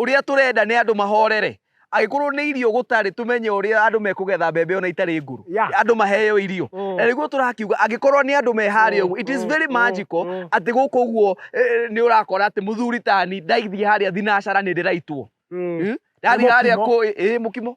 ũrĩa tũrenda nĩ andũ mahorere agĩkorwo nĩ irio gũtarĩ tumenye ũrĩa andũ mekũgetha mbembe ona itarĩ ngũrũ andũ maheo irio mm. na nĩguo tũrakiuga angĩkorwo nĩ andũ meharĩa ũguo it is mm, very mm, magical atĩ gũkũ ũguo e, e, nĩ ũrakora atĩ mũthuri tani ndaithiĩ harĩa thinacara nĩ ndĩraitwo hmm? ndathiĩ harĩa kũ ĩ mũkimo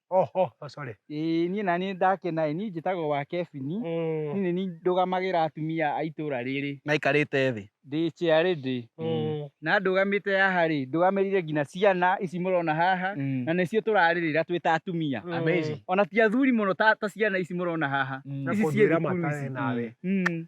Oho, oh, sorry. Ĩĩ niĩ na niĩ ndakena ĩ niĩ njĩtagwo wa Kebini mm. niĩ nĩ ndũgamagĩra atumia a itũra rĩrĩ na ikarĩte thĩ ndĩ ciarĩ ndĩ mm. na ndũgamĩte haha rĩ ndũgamĩrire nginya ciana ici mũrona haha mm. na nĩcio tũrarĩrĩra twĩ ta atumia ona ti athuri mũno ta ciana ici mũrona haha ici ciĩ thukuru ici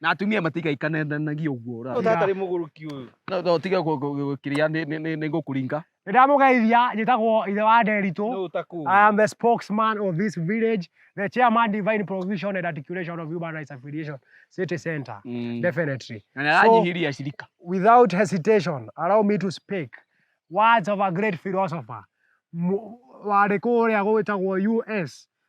na atumia matigaikananagia ũguo ũra- Tata rĩ mũgũrũki ũyũ. No- no tige kũ- kũ- kũ- kĩrĩa nĩ- nĩ- nĩ- nĩ ngũkũringa nĩ ndamũgeithia njĩtagwo ithe wa nderitũ Nũ ũtakũĩ. I am the spokesman of this village, the chairman divine provision and articulation of human rights affiliation city center. Mm. Definitely. na nĩ aranyihiria acirika Without hesitation, allow me to speak words of a great philosopher. Mu- Warĩ kũrĩa gwĩtagwo US,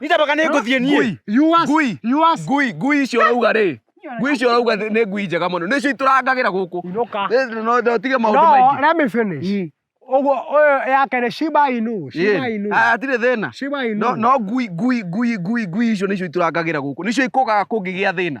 nĩtambaka nĩ ngũthiĩ niĩ You ask, Ngui. you ask. ngui ngui icio ũrauga rĩ ngui icio ũrauga nĩ nĩ ngui njega mũno nĩcio itũrangagĩra gũkũ Inũka. Nĩ- no- no tige maũndũ No, maingĩ let me finish. Ũguo, ũyũ yake nĩ Shiba Inu, Shiba Ĩĩ. Inu. Ah, hatirĩ thĩna Shiba Inu. no no ngui ngui ngui ngui ngui icio nĩcio itũrangagĩra gũkũ nĩcio ikũgaga kũngĩgĩa thĩna